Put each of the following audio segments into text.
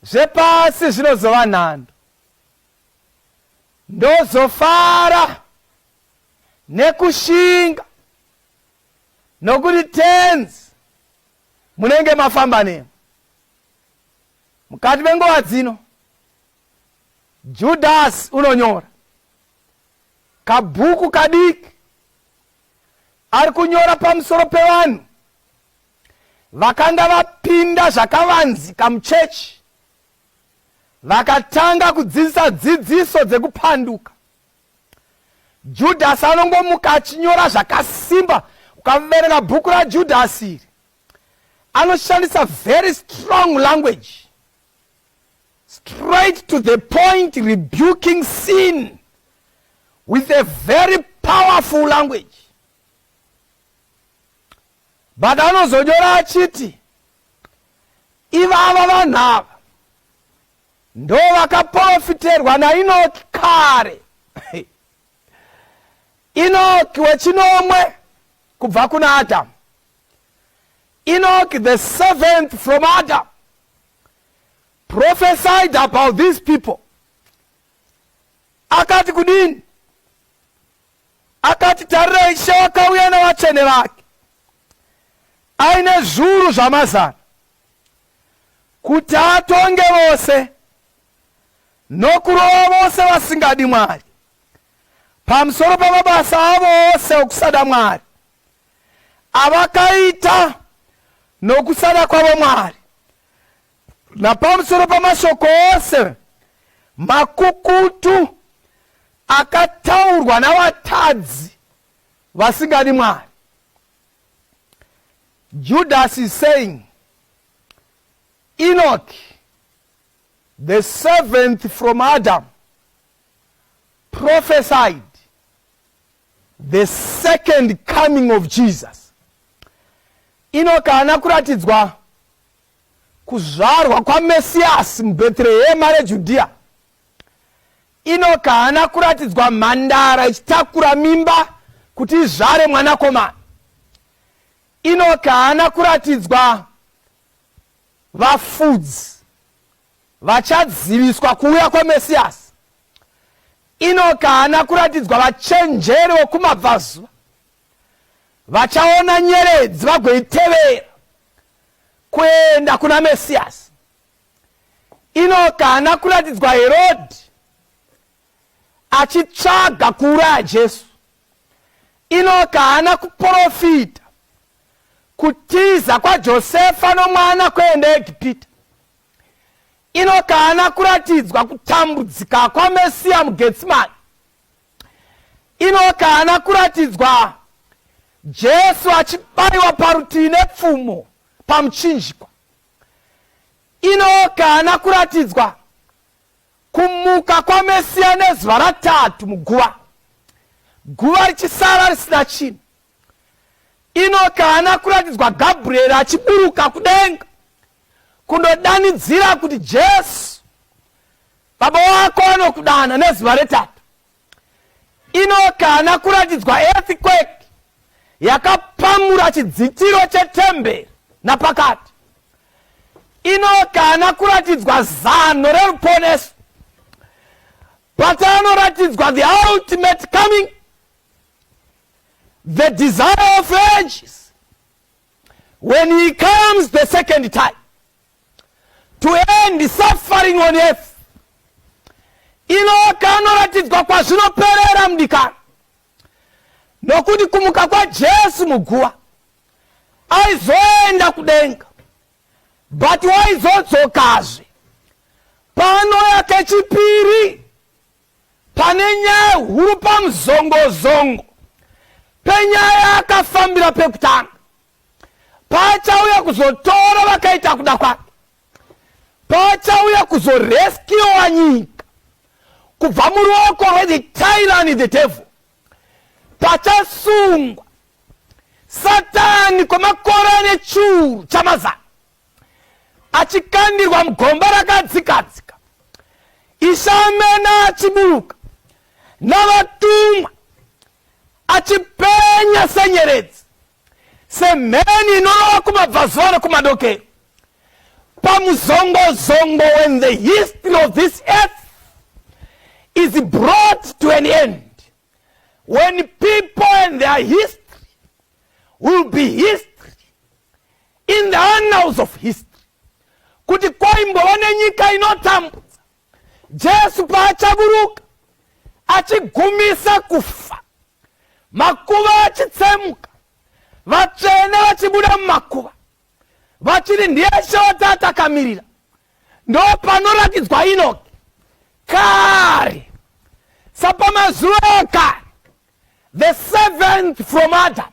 zvepasi zvinozova nhando ndozofara nekushinga nokuti tenzi munenge mafamba nemo mukati menguva dzino judhasi unonyora kabhuku kadiki ari kunyora pamusoro pevanhu Vakanga vapinda zvakavanzika muchechi, vakatanga kudzidzisa dzidziso dzekupanduka. Judhasi anongomuka achinyora zvakasimba. Ukaverenga bhuku raJudhasi iri, anoshandisa very strong language, straight to the point, rebuking sin with a very powerful language. but anozonyora achiti ivava vanhu ava ndo vakaporofiterwa nainoki kare inoki wechinomwe kubva kuna adamu inoki the seventh from adam prophesied about these people akati kudini Akati, Tarirai, Ishe wakauya nevatsvene vake aine zviuru zvamazana kuti atonge vose nokurova vose vasingadi Mwari pamusoro pamabasa avo ose okusada Mwari avakaita nokusada kwavo Mwari Napamusoro pamashoko ose makukutu akataurwa navatadzi vasingadi Mwari, Judas is saying Enoch, the seventh from Adam, prophesied the second coming of Jesus. Enoch haana kuratidzwa Kuzvarwa kwaMesiyasi muBhetrehema reJudhiya, Inoki haana kuratidzwa mhandara ichitakura mimba kuti izvare mwanakomana. Inoki haana kuratidzwa vafudzi vachaziviswa kuuya kwaMesiyasi. Inoki haana kuratidzwa vachenjeri vokumabvazuva. vachaona nyeredzi vagoitevera kuenda kuna mesiyasi inoka haana kuratidzwa herodhi achitsvaga kuuraya jesu inoka haana kuprofita kutiza kwajosefa nomwana kuenda egipita inoka haana kuratidzwa kutambudzika kwamesiya mugetsimani Inoki haana kuratidzwa Jesu achibaiwa parutivi nepfumo pamuchinjikwa. Inoki haana kuratidzwa kumuka kwaMesiya nezuva ratatu muguva, guva richisara risina chinhu. Inoki haana kuratidzwa Gabrieri achiburuka kudenga kundodanidzira kuti Jesu Baba wako anokudana nezuva retatu. Ino kana kuratidzwa earthquake yakapamura chidzitiro chetemberi napakati. Ino kana kuratidzwa zano reruponeso. Patanoratidzwa the ultimate coming, the desire of ages, when he comes the second time. to end suffering on earth inoka anoratidzwa kwazvinoperera mudikana nokuti kumuka kwajesu muguva aizoenda kudenga but waizodzokazve pano yake chipiri pane nyaya huru pamuzongozongo penyaya akafambira pekutanga paachauya kuzotora vakaita kuda kwake paachauya kuzoreskiwa nyika kubva muruoko rwethe tyrani the devil pachasungwa satani kwemakore ane churu chamazana achikandirwa mugomba rakadzikadzika isamena achiburuka navatumwa achipenya senyeredzi semheni inorova kumabvazuva nekumadokero pamuzongozongo when the history of this earth is brought to an end when people and their history will be history in the annals of history kuti kwaimbova nenyika inotambudza Jesu paachaburuka achigumisa kufa, makuva achitsemuka, vatsvene vachibuda mumakuva, vachiri ndiye shota atakamirira, ndo panoratidzwa Inoki kare sapamazuva ekare, the seventh from Adam.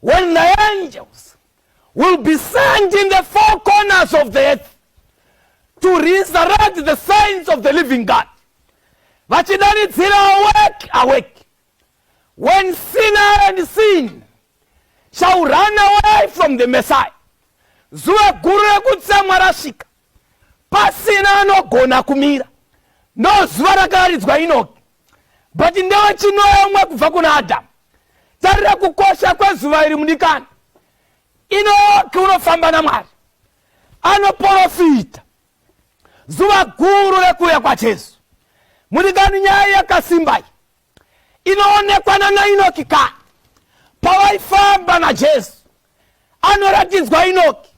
When the angels will be sent in the four corners of the earth to resurrect the saints of the living God. Vachidanidzira awake, awake. When sinner and sin shall run away from the Messiah. Zuva guru rekutsamwa rasvika. Pasina anogona kumira. Ndozuva rakaridzwa Enoki. but ndewe chinomwe kubva kuna adamu tarira kukosha kwezuva iri mudikani inoki unofamba namwari anoporofita zuva guru rekuuya kwajesu mudikani nyaya yakasimbai inoonekwa nanainoki kani pavaifamba najesu anoratidzwa inoki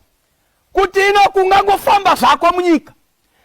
kuti inoki ungangofamba zvako munyika